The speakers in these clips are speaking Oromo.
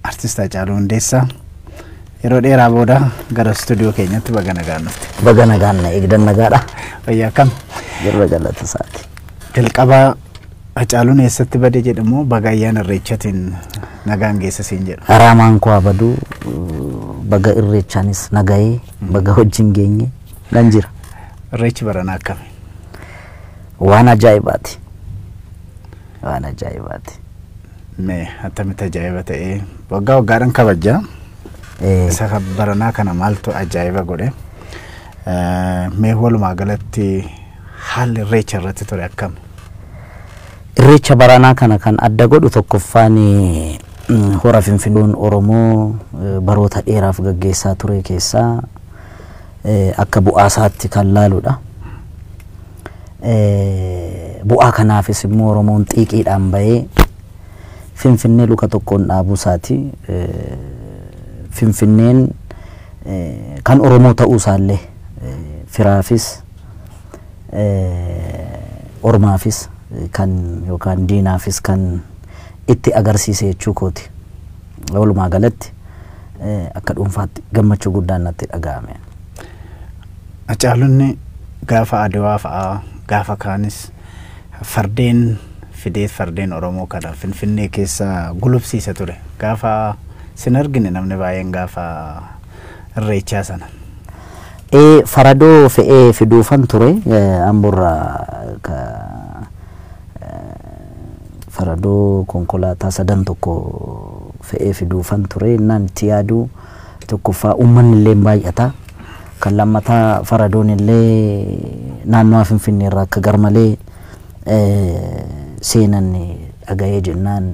Artist Hacaaluu Hundeessaa yeroo dheeraa booda gara istuudiyoo keenyatti baga nagaan dhufte. Baga nagaan na eegdan nagaadha. Fayyaa akkam? Jirra galata isaati. Jalqaba Hacaaluun eessatti bade jedhamoo baga ayyaana irreechatiin nagaan geessa siin jedhu. Haraamaan koo abaduu baga irreechaanis nagayee baga wajjin geenye nan jira. Irreechi baranaa akkami? Waan ajaa'ibaati. Waan ajaa'ibaati. Me attamitti ajaa'iba ta'ee waggaa waggaadhan kabajja. Isa kan baranaa kana maaltu ajaa'iba godhe? Eh, Mee walumaa galatti haalli irreecha irratti ture akkami? Irreecha baranaa kana kan adda godhu tokkoffaan eh, mm, hora finfidoon Oromoo eh, baroota dheeraaf gaggeessaa ture keessaa akka bu'aa isaatti kan laaludha. Bu'aa kanaafis immoo Oromoon xiiqiidhaan bahee Finfinnee luka tokkoon dhaabuu isaati. Finfinneen kan Oromoo ta'uu isaallee firaafis ormaafis kan yookaan diinaafis kan itti agarsiise jechuu kooti. Walumaa galatti akka dhuunfaatti gammachuu guddaan natti dhaga'ame. Hacaalunni gaafa Adwaa fa'aa gaafa kaanis fardeen fideet fardeen Oromoo kana Finfinnee keessa gulufsiisa ture. Gaafa sin argine namni baay'een gaafa irreechaa sana. Ee faradoo fe'ee fiduufan ture Amborraa faradoo konkolaataa sadan tokko fe'ee fiduufan ture innaan itti yaadu tokkoffaa uummanni illee baay'ata kan lammataa faradoon illee naannoo finfinnee irraa akka garmalee seenan dhaga'ee jennaan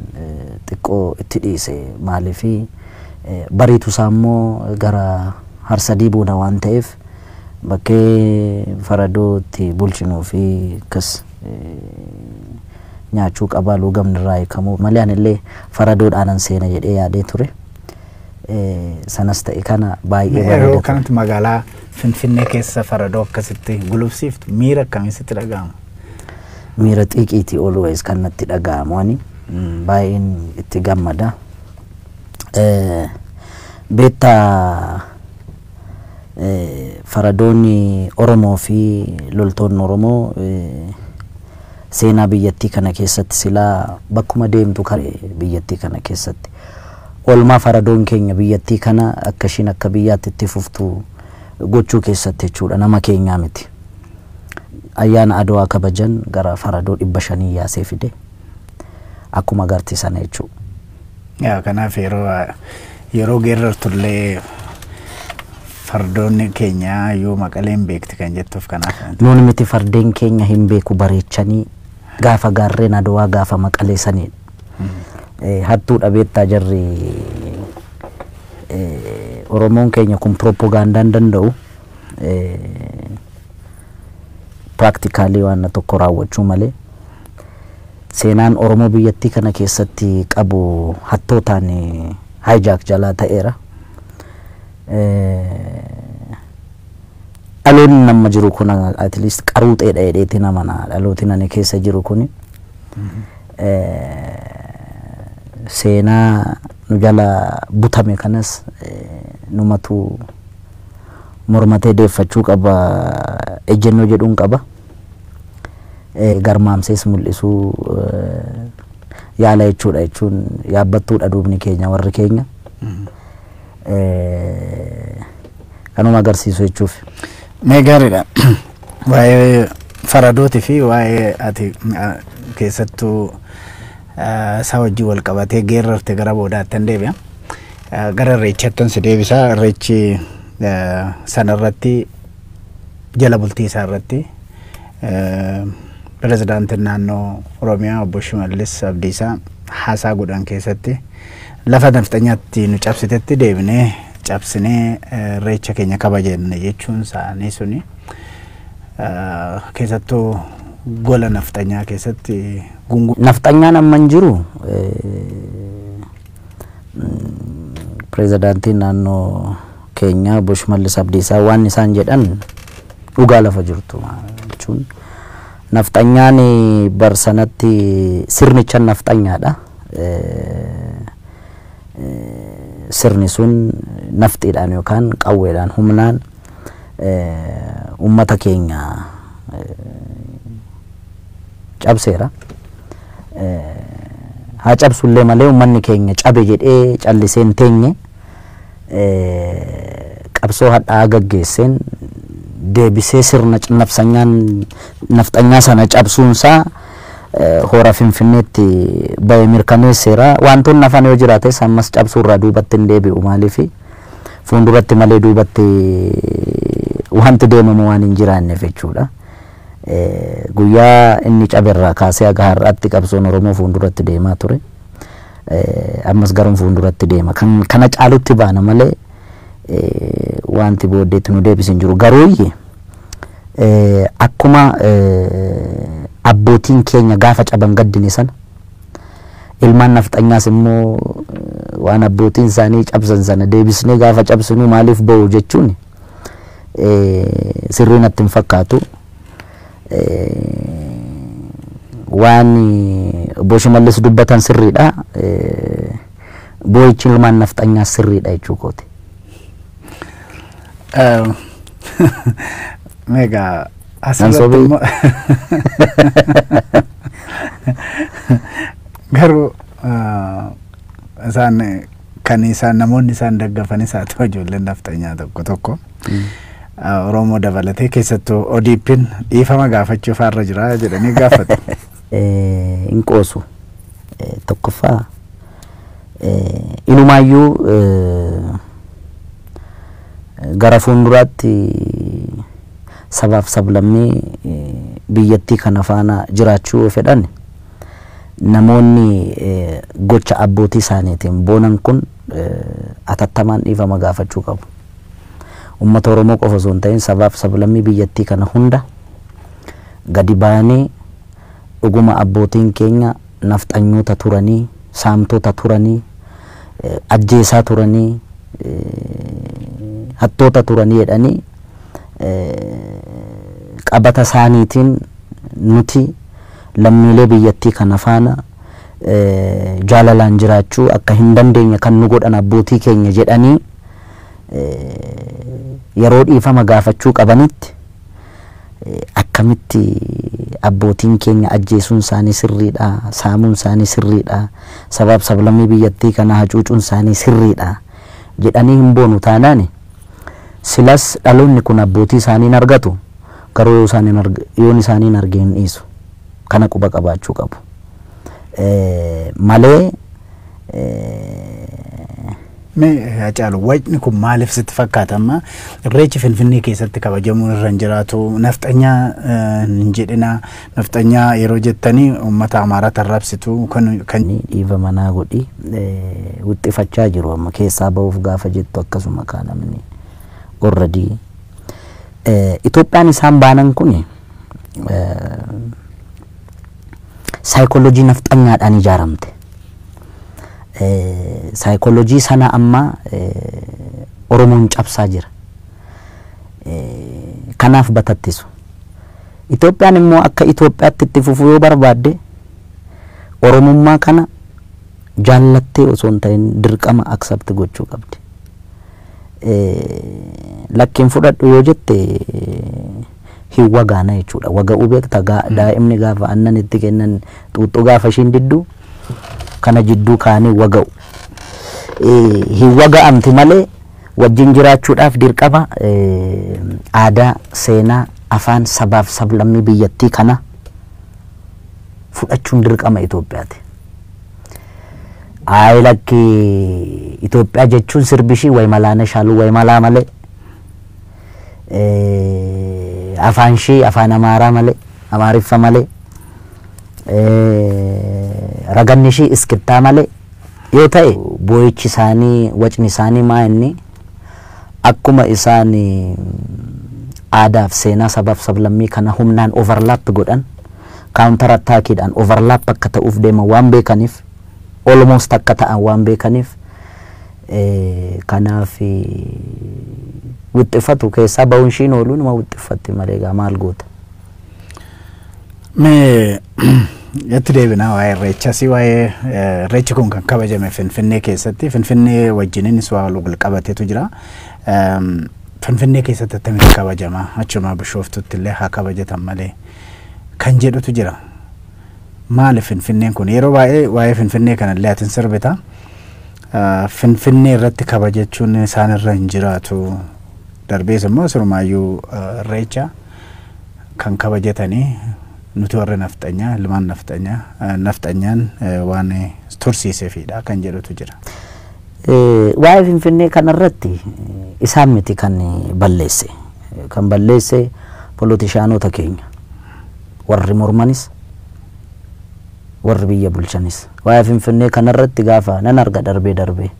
xiqqoo itti dhiise maaliif bariitu isaa immoo gara harsadii booda waan ta'eef bakkee faradoo itti bulchinuu fi akkas nyaachuu qaba luugamni irraa hiikamuu malee anillee faradoodhaanan seena jedhee yaadee ture. Sanas ta'e kana baay'ee Yeroo bareeda ture. kanatti magaalaa Finfinnee keessa faradoo akkasitti gulufsiiftu miira akkamii sitti dhaga'ama? Miira xiiqiiti always kan natti dhaga'amu ani Mm, baay'een itti gammada. Eh, Beektaa Faradoonni Oromoo fi loltoonni Oromoo seenaa biyyattii kana keessatti silaa bakkuma deemtu kare biyyattii kana keessatti oolmaa faradoon keenya biyyattii kana akka ishiin akka biyyaatti itti fuftu gochuu keessatti jechuudha nama keenyaa miti. Ayyaana Adowaa kabajan gara faradoo dhibba shanii yaasee fide akkuma agarti sana jechuudha. Yaa kanaaf yeroo yeroo geerrartullee fardoonni keenya yoo maqaleen beekti kan jettuuf kanaaf. Nuuni miti fardeen keenya hin beeku bareechanii gaafa gaarreen adowaa gaafa maqalee saniidha. Eh, Hattuu dhabeettaa jarri eh, Oromoon keenya kun pirooppogaandaan danda'u eh, piraaktikaali waan tokko raawwachuu malee Seenaan Oromoo biyyattii kana keessatti qabu hattootaan hijack jalaa ta'eera. Dhaloonni amma jiru kun at least qaruuxeedha jedheetiin amana. Dhalootiin ani keessa jiru kun seenaa nu jala butame kanas numatu mormatee deeffachuu qaba ejjennoo jedhuun qaba. garmaamsees mul'isuu yaala jechuudha jechuun yaabbattuudha duubni keenya warri keenya. Kanuma agarsiisu jechuuf. Mee gaariidha. Waa'ee faradootii fi waa'ee ati keessattuu isaa wajjin wal qabatee geerrarte gara boodaatti hin deebi'a. Gara irreechaatti si deebisaa irreechi sanarratti Jala bultii isaa irratti Pirezidaantiin Naannoo Oromiyaa Obbo Shimallis Abdiisaa haasaa godhan keessatti lafa nafxanyaatti nu cabsitetti deebinee cabsinee irreecha keenya kabajanne jechuun isaanii suni keessattuu gola nafxanyaa keessatti gunguu. Nafxanyaan amma hin jiru. pirezidaantiin naannoo keenyaa obbo Shimallis Abdiisaa waan isaan jedhan dhugaa lafa jirtu jechuun nafxanyaan bar sanatti sirnichan nafxanyaadha. Sirni sun nafxiidhaan yookaan qawweedhaan humnaan uummata keenya cabseera. Haa cabsullee malee uummanni keenya cabe jedhee callisee hin teenye. Qabsoo hadhaa'aa gaggeesseen deebisee sirna cinnafsanyaan nafxanyaa sana cabsuunsaa hora Finfinneetti bahe mirkaneesseera. Wantoonni hafan yoo jiraates ammas cabsuurraa duubatti hin deebi'u maaliifi fuulduratti malee duubatti wanti deemamu waan hin jiraanneef jechuudha. guyyaa inni caberraa kaasee haga har'aatti qabsoon Oromoo fuulduratti deemaa ture. Ammas garuun fuulduratti deema. Kan kana caalutti baana malee wanti booddeetti nu deebisu hin jiru. Garuuyyi akkuma abbootiin keenya gaafa caban gaddine sana ilmaan nafxanyaas immoo waan abbootiin isaanii cabsan sana deebisnee gaafa cabsinu maaliif ba'u jechuun sirrii natti hin fakkaatu. Waan obbo Shimallis dubbatan sirriidha. Boo'ichi ilmaan nafxanyaas sirriidha jechuu kooti. Meegaa asirratti immoo garuu Isaan kan isaan namoonni isaan daggafanis haa ta'u ijoolleen nafxanyaa tokko tokko Oromoo dabalatee keessattuu ODP'n dhiifama gaafachuu faarra jira jedhanii gaafatu. Hin qoosu. Tokkoffaa inumaayyuu gara fuulduraatti sabaaf sablammii biyyattii kana faana jiraachuu yoo fedhan Namoonni gocha abbootii isaaniitiin boonan kun atattamaan dhiifama gaafachuu qabu. Ummata Oromoo qofa osoo hin ta'in sabaa fi sablammii biyyattii kana hunda gadi baanee dhuguma abbootiin keenya nafxanyoota turanii, saamtota turanii, ajjeesaa turanii, hattoota turanii jedhanii qabata isaaniitiin nuti lammiilee biyyattii kana faana jaalalaan jiraachuu akka hin dandeenye kan nu godhan abbootii keenya jedhanii yeroo dhiifama gaafachuu qabanitti akkamitti abbootiin keenya ajjeesuun isaanii sirriidha, saamuun isaanii sirriidha, sabaaf sablammii biyyattii kana hacuucuun isaanii sirriidha jedhanii hin boonu taanaani silas dhaloonni kun abbootii isaanii hin argatu. Garuu yoo isaan hin arg yoon isaanii hin arge hin dhiisu. Kana quba qabaachuu qabu. Malee Mee Hacaalu wacni kun maaliif sitti fakkaata amma irreechi Finfinnee keessatti kabajamuun irra hin jiraatu nafxanyaa hin jedhina nafxanyaa yeroo jettanii uummata Amaaraa tarrabsitu kan kan ni dhiiva manaa godhi wixxifachaa jiru amma keessaa ba'uuf gaafa jettu akkasuma kaa namni orradii Itoophiyaan isaan baanan kun saayikoolojii nafxanyaadhaan ijaaramte. Saayikoolojii sana amma Oromoon cabsaa jira. Kanaaf batattisu. Itoophiyaan immoo akka Itoophiyaatti itti fufuu yoo barbaadde Oromummaa kana jaallattee osoo hin ta'in dirqama accept gochuu qabdi. lakki hin fudhadhu yoo jette hin wagaana jechuudha. Waga'uu beekta daa'imni gaafa aannan itti kennan xuuxxuu gaafa ishiin diddu kana jidduu kaanii waga'u. Hin waga'amti malee wajjin jiraachuudhaaf dirqama aadaa, seenaa, afaan, sabaaf sablammii biyyattii kana fudhachuun dirqama Itoophiyaati. Ayi lakki Itoophiyaa jechuun sirbi ishii way malaa nashaaluu way malaa malee eh, afaan ishii afaan amaaraa malee amaariffa malee eh, raganni ishii iskittaa malee yoo ta'e boo'ichi isaanii wacni isaanii maa inni akkuma isaan eh, aadaaf seenaa sabaaf sablammii kana humnaan overlap godhan counter attack dhaan overlap akka ta'uuf deeman waan beekaniif almost akka ta'an waan beekaniif kanaaf wixxifatu keessaa ba'uun ishiin ooluu nama wixxiffatti malee egaa maal goota. Mee itti deebinaa waa'ee irreechas waa'ee irreechi kun kan kabajame Finfinnee keessatti Finfinnee wajjininis waa wal qabatetu jira. Finfinnee keessatti akkamitti kabajama achuma bishooftutti illee haa kabajatan malee. kan jedhutu jira. Maaliif Finfinneen kun? Yeroo baay'ee waa'ee Finfinnee kanallee ati hin sirbita. Finfinnee irratti kabajachuun isaan irra hin jiraatu. Darbees immoo sirumaayyuu irreecha kan kabajatanii nuti warri nafxanyaa, ilmaan nafxanyaa, nafxanyaan waan tursiisefiidha kan jedhutu jira. Waa'ee Finfinnee kanarratti isaan miti kan balleesse. Kan balleesse polotishaanota keenya. Warri mormanis, warri biyya bulchanis. Waa'ee Finfinnee kanarratti gaafa nan arga darbee darbee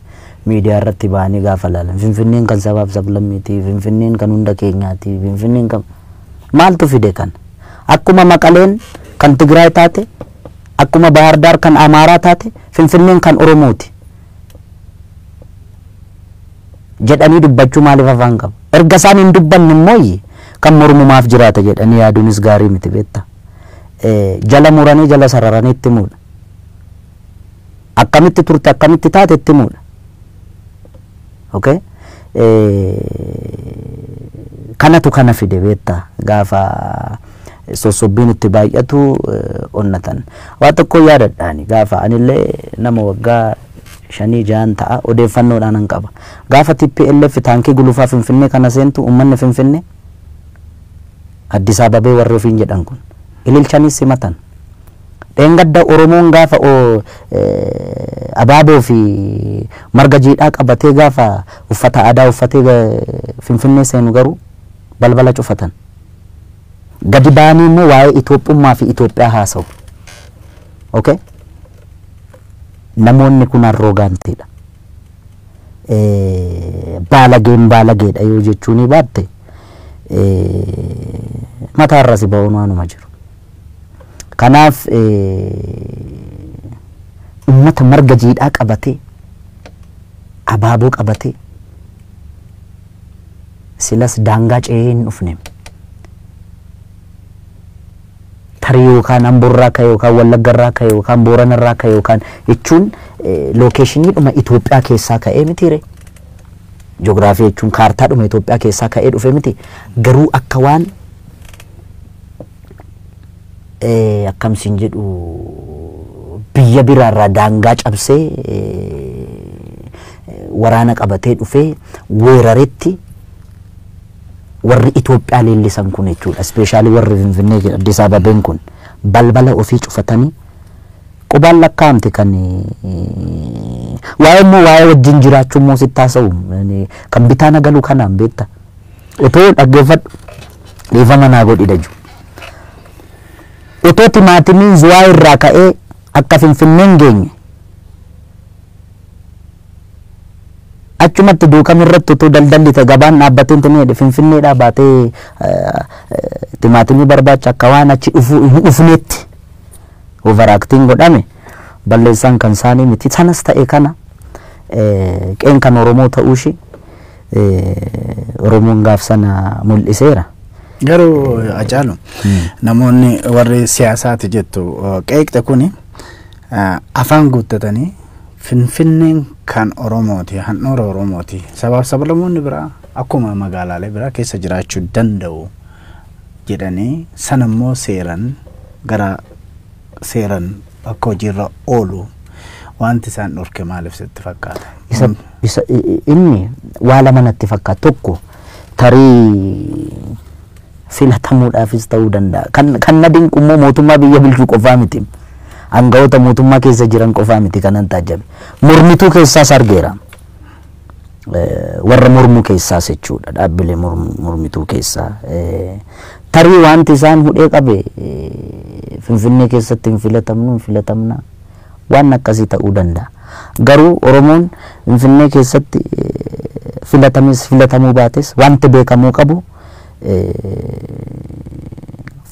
miidiyaarratti ba'anii gaafa laalan Finfinneen kan sabaaf sablammiiti, Finfinneen kan hunda keenyaati, Finfinneen kan Maaltu fide kana? Akkuma Maqaleen kan Tigraay taate, Akkuma Bahaar Daar kan Amaaraa taate Finfinneen kan Oromooti jedhanii dubbachuu maaliif afaan qabu? Erga isaan hin dubbanne immoo kan mormu maaf jiraata jedhanii yaaduunis gaarii miti beektaa. Jala muranii jala sararanii itti himuudha. Akkamitti turte akkamitti taate itti himuudha. Okay kanatu kana fide beetta gaafa sossobbiin itti baay'atu onnatan waa tokko yaadadhaani gaafa anillee nama waggaa shanii ja'an ta'a odeeffannoodhaan an qaba gaafa TPLF taankii gulufaa finfinnee kana seentu ummanni finfinnee Addis Ababee warri ofiin jedhan kun ililchanii simatan Dheengadda Oromoon gaafa Abaaboo fi marga jiidhaa qabatee gaafa uffata aadaa uffatee Finfinnee seenu garuu balbala cufatan. Gadi ba'anii immoo waa'ee Itoophummaa fi Itoophiyaa haasawu. Ok? Namoonni kun arroogaantiidha. Baalageen baalageedha yoo jechuu ni baatte mataarra si ba'uun waanuma jiru. Kanaaf ummata marga jiidhaa qabatee, abaaboo qabatee silas daangaa ce'ee hin dhufne. Tarii yookaan Amborraa ka'e yookaan Wallaggarraa ka'e yookaan Booranarraa ka'e yookaan jechuun lookeeshiniidhuma Itoophiyaa keessaa ka'ee mitiire. Joogiraafii jechuun kaartaadhuma Itoophiyaa keessaa ka'ee dhufe miti. Garuu akka waan eh, akkam siin jedhu biyya biraarraa daangaa cabsee eh, waraana qabatee dhufee weeraretti warri Itoophiyaa leellisan kun jechuudha. Ispeeshaalii warri Finfinnee jedha Addis Ababeen kun balbala ofii cufatanii qubaan lakkaa'amte kan eh, waa'ee immoo waa'ee wajjin jiraachuu immoo sitti haasa'u Eh, kan bitaa na galu kanaan beekta. Otoo dhaggeeffadhu dhiifama naa godhi daju. Otoo timaatimiin zuwaa irraa ka'ee akka finfinneen geenye achumatti duukam irratti utuu daldalli ta'e gabaan dhaabbatee hin jedhe finfinneedhaa baatee timaatimii barbaacha akka waan achi dhufuu hin dhufneetti overaaktiin godhame balleessaan kan isaanii miti sanas ta'e kana qeen kan Oromoo ta'uu ishee eh, Oromoon gaaf sana mul'iseera. Garuu Hacaalu namoonni warri siyaasaati jettu uh, qeeqxe kuni uh, afaan guuttatanii finfinneen kan Oromooti, handhuura Oromooti. Sabaaf sablamoonni biraa akkuma magaalaalee biraa keessa jiraachuu danda'u jedhanii sanammoo seeran gara seeran akka hojiirra oolu wanti isaan dhorke maaliif sitti fakkaata? isa, Kun isa, i- i- inni waa lama natti fakkaata tokko tarii filatamuudhaafis ta'uu danda'a kan, kan na dinqu immoo mootummaa biyya bulchuu qofaa miti aangawoota mootummaa keessa jiran qofaa miti kanan taajjabe mormituu keessaas argeera warra mormu keessaas jechuudha dhaabbilee mormituu keessaa tarii wanti isaan hudhee qabe finfinnee keessatti hin filatamnu hin filatamna waan akkasii ta'uu danda'a. Garuu Oromoon finfinnee keessatti filatames filatamuu baates wanti beekamuu qabu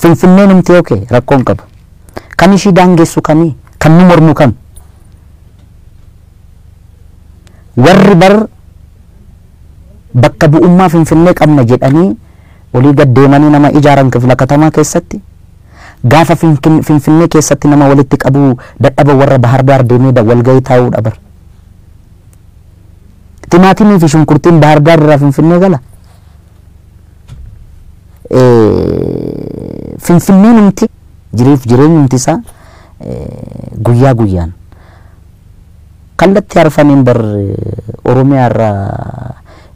finfinneen humti oke rakkoon qabu. Kan ishii daangessu kami kan nu mormu kami. Warri bar bakka bu'ummaa Finfinnee qabna jedhanii olii gad deemanii nama ijaaran kifla katamaa keessatti, gaafa Finfinnee keessatti nama walitti qabuu dadhaban warra Bahar Daar deemee walgahii taa'uudha bar. Timaatimii fi shunkurtiin Bahar Daar irraa Finfinnee gala? Finfinneenumti jiriif jireenyumti isaa guyyaa guyyaan Kallatti arfaniin bar oromiyaa irra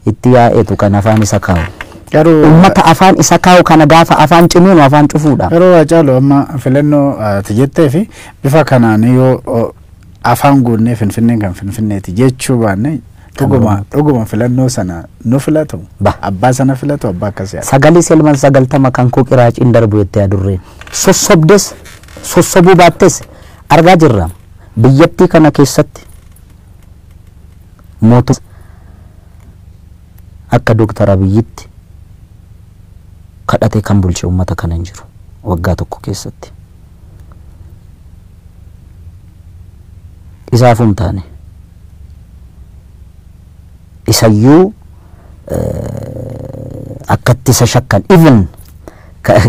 itti yaa'etu kan afaan isa kaawu. Garuu Ummata afaan isa kaawu kana gaafa afaan cimuunu afaan cufuudha. Garuu Haacaalu amma filannoo ati jettee fi bifa kanaan yoo o, afaan guunnee finfinneen kan finfinneeti jechuu baanne dhuguma dhuguma filannoo sana nu filatu Ba. abbaa sana filatu abbaa akkasii haa Sagalee selman sagaltama kan koo qiraaciin darbu jettee adurreen. Sossobdes sossobuu baattes argaa jirra. Biyyattii kana keessatti mootummaan akka Dr. Abiyyitti kadhatee kan bulche uummata kana hin jiru waggaa tokko keessatti. Isaafuu hin taane. Isayyuu akkatti isa shakkan even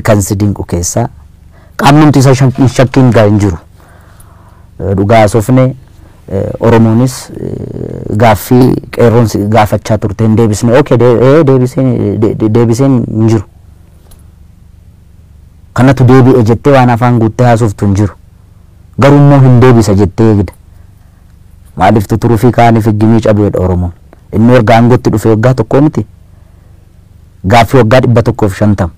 kan si dinqu keessaa qaamnumti isa hin shakkiin gaa hin jiru. Yoo dhugaa haasofne Oromoonis gaaffii qeerroon si gaafachaa turte hin deebisne. Okay, deebiseen hin jiru. Kanatu deebi'e jettee waan afaan guuttee haasoftu hin jiru. Garuu immoo hin deebisa jettee eegda. Maaliif tuturufii kaaniif higgimii cabeedha Oromoon. Inni erga aangootti dhufee waggaa tokkoo miti. Gaaffii waggaa 150.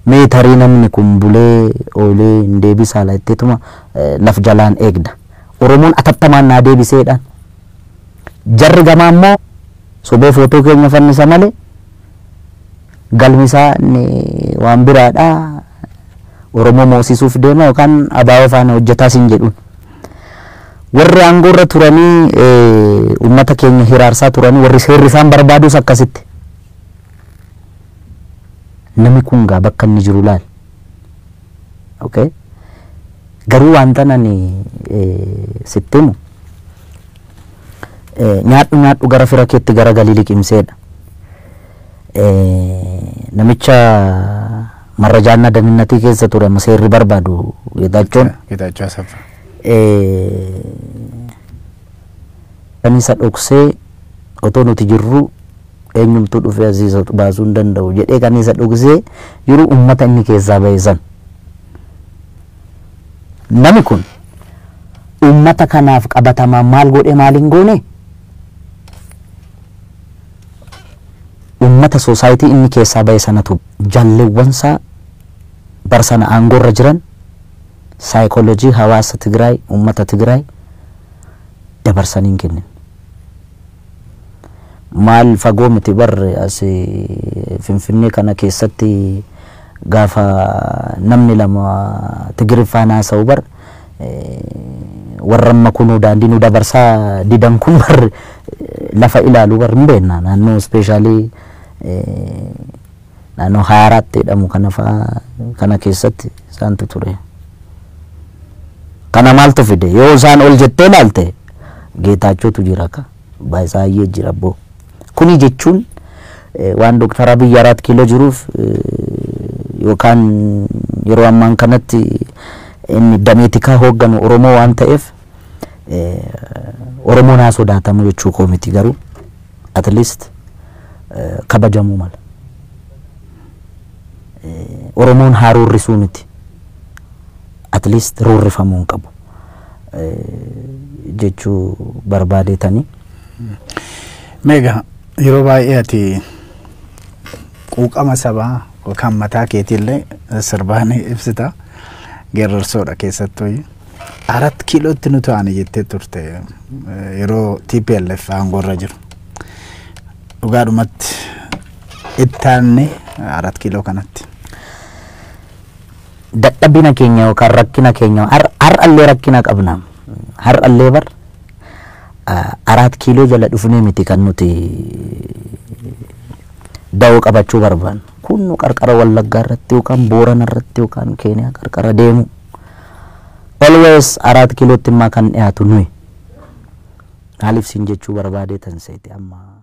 Mee tarii namni kun bulee oolee hin deebisaa laa jetteetuma laf jalaan eegda. Oromoon atattamaan naa deebisee jedhaan. Jarri gamaa immoo sobee footoo keenya fannisa malee galmi isaa inni waan biraadha. Oromoo moosisuuf deema yookaan ABO faana hojjetaa siin jedhuun. Warri aangoorra turanii uummata keenya hiraarsaa turanii warri seerri isaan barbaadus akkasitti. Nami kun gaa bakka inni jiru laal. Okay? Garuu wantan ani sitti himu Nyaadhu nyaadhu gara fira keetti gara galii liqimseedha. Namicha marrajaannaa daninnatii keessa ture amma seerri barbaadu Geetaachoon. Geetaachoo Asaffaa. Kan isa dhoksee otoo nuti jirru eenyumtuu dhufee asii isa baasuu hin danda'u jedhee kan isa dhoksee jiru uummata inni keessaa ba'e san. Nami kun ummata kanaaf qabatamaan maal godhe maal hin goone? Ummata society inni keessaa bahe sanatu jallewwan isaa bara sana aangoo irra jiran psychology hawaasa Tigraay, ummata Tigraay dabarsanii hin kennine. Maal fagoo miti bar as Finfinnee kana keessatti gaafa namni lama Tigiriffaan haasa'u bar warra amma kunuu daandii nu dabarsaa didan kun bar lafa ilaalu bar hin beekna naannoo ispeeshaalii naannoo haaraatti jedhamu kana faa kana keessatti isaantu ture. Kana maaltu fide yoo isaan ol jettee laalte geetaachootu jira ka baay'isaayyee jira boo. Kuni jechuun waan Dooktar Abiy Araat Kiiloo jiruuf yookaan yeroo ammaan kanatti inni damee tikaa hoogganu Oromoo waan ta'eef Oromoon haa sodaatamu jechuu koo miti garuu. at least eh, kabajamuu mala. Eh, Oromoon haa roorrisuu miti. At least roorrifamuu hin qabu. Eh, jechuu barbaadeetanii. Meegaa yeroo baay'ee ati quuqama sabaa yookaan mataa keetiillee sirbaan ibsita. Geerarsoodha keessattuu. Arat kiilootti nu to'ane jettee turte yeroo TPLF aangoorra jiru. Dhugaadhumatti ittaanne arat kiiloo kanatti. Dadhabina keenya yookaan rakkina keenya har- har'allee rakkina qabna. Har'allee bar ah, araat kiiloo jala dhufnee miti kan nuti da'oo qabachuu barbaannu. Kun nu qarqara Wallaggaa irratti yookaan Boorana irratti yookaan Keeniyaa qarqara deemu. Always araat kilotti immaa kan dhiyaatu nuyi. Maaliif siin jechuu barbaadee tan seete ammaa.